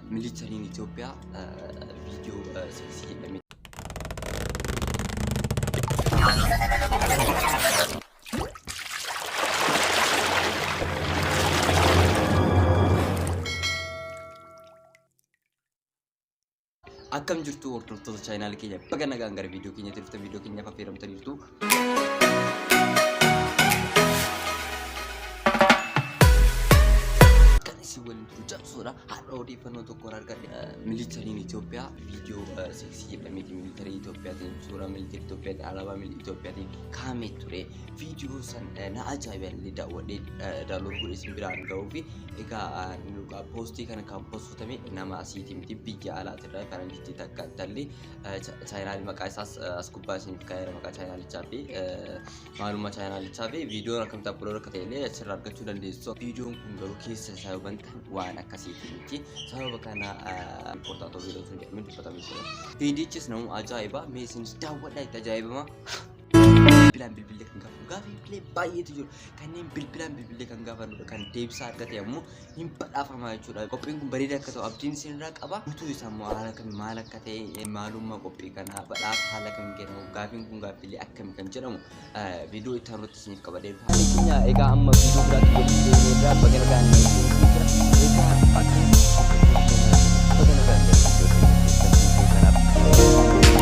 Militariin Itoophiyaa viidiyoo seeksii jedhame. Akkam jirtu hordoftoota chaayinaal keenya baga nagaan gara viidiyoo keenyatti dhuftan viidiyoo keenyaaf affeeramtaniirtu. kan isin waliin turu cabsuudha har'a odeeffannoo tokkoon argadhe militariin Itoophiyaa viidiyoo seeksii jedhameeti militarii Itoophiyaatiin suuraa militarii Itoophiyaatiin alaabaa militarii Itoophiyaatiin kaa'amee ture viidiyoo san eh, na ajaa'iballee daawwadhee eh, daawloon godhe isin biraan ga'uu fi egaa eh, nuuqa poostii kana kan poostotame nama asiiti miti biyya alaatirraa faranjitti takka tallee chaayinaalii maqaa isaas as gubbaa isiniif kaa'eera maqaa chaayinaalichaa fi maalummaa chaayinaalichaa fi viidiyoon akkamitti aplood akka ta'e illee achirraa argachuu dandeessu. Viidiyoon kun garuu keessa isaa yoo bantan waan akkasiitii miti sababa kana riippoortaatoo viidiyoo sun jedhamee dubbatame jira. Viidiyichis namuu ajaa'iba mee isinis daawwadhaa itti ajaa'ibama. bilbilaan bilbilee kan gaafatu gaaffiilee baay'eetu jiru kanneen bilbilaan bilbilee kan gaafanudha kan deebisaa argate ammoo hin badhaafamaa jechuudha. Qophiin kun bareeda akka ta'u abdiin isinirraa qaba. Guutuu isaa immoo haala kami maal akka ta'e maalummaa qophii kanaa badhaaf haala kami kennamu gaafiin kun gaaffilee akkami kan jedhamu viidiyoo itti aanutti isiniif qaba deebifa. Ani keenya egaa amma viidiyoo biraatti walitti deemnee irraa baga nagaan jira. Egaa akka baga nagaan jira. Kanaaf.